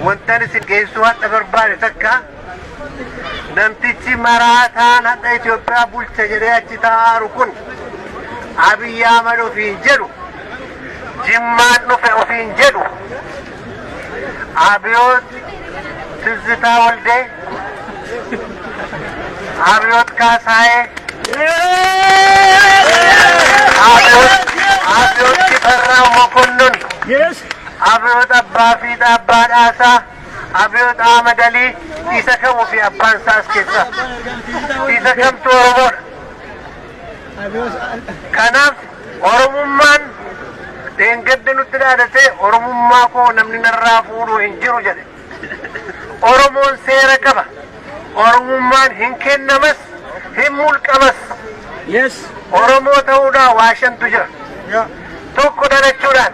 Wantan isin geessuu hadha barbaade takka namtichi maraataan hadha Itoophiyaa bulcha jedhee achi taa'aaru kun Abiyyi Ahmad ofiin jedhu jimmaan dhufe ofiin jedhu Abiyoot Tizzitaa Waldee Abiyoot Kaasaayee Abiyoot Abiyoot Shifarraa Mokonnon Abiyoot Abbaa Fiixaa Abbaa Dhaasaa Abiyoot Ahmad Alii isa kamuu fi abbaan isaa as keessaa isa kamtu Oromoodha. Kanaaf Oromummaan dheengadda nutti dhaadatee Oromummaa koo namni narraa fuudhu hin jiru jedhe. Oromoon seera qaba. Oromummaan hin kennamas hin mulqamas. Oromoo ta'uudhaan waa shantu jira. Tokko dhalachuudhaan.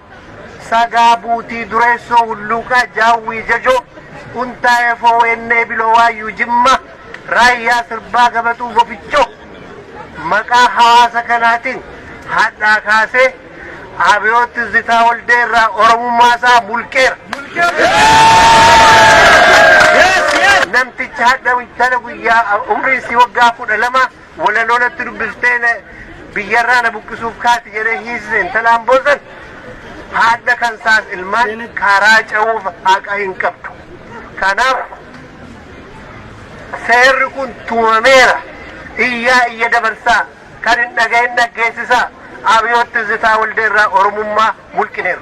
Sagaa Buutii Dureessoo Hulluuqaa Jaawwii Jajoo Untaa Efoo Weennee Biloo Waayyuu Jimma Raayyaa Sirbaa Gabaxuu Gofichoo Maqaa hawaasa kanaatiin hadhaa kaasee Abiyoot Tizzitaa Waldee irraa Oromummaa isaa mulqeera. Namtichi hadha intala guyyaa umriin si waggaa kudha lama Walaloo natti dubbiftee na biyyarraa na buqqisuuf kaati jedhee hiisise intalaan boosan haadha kan saas ilmaan karaa ce'uuf haqa hin qabdu. Kanaaf seerri kun tumameera. Iyyaa iyya dabarsaa kan hin dhaga'in dhaggeessisaa abiyootti zitaa waldeerraa oromummaa mulqineera.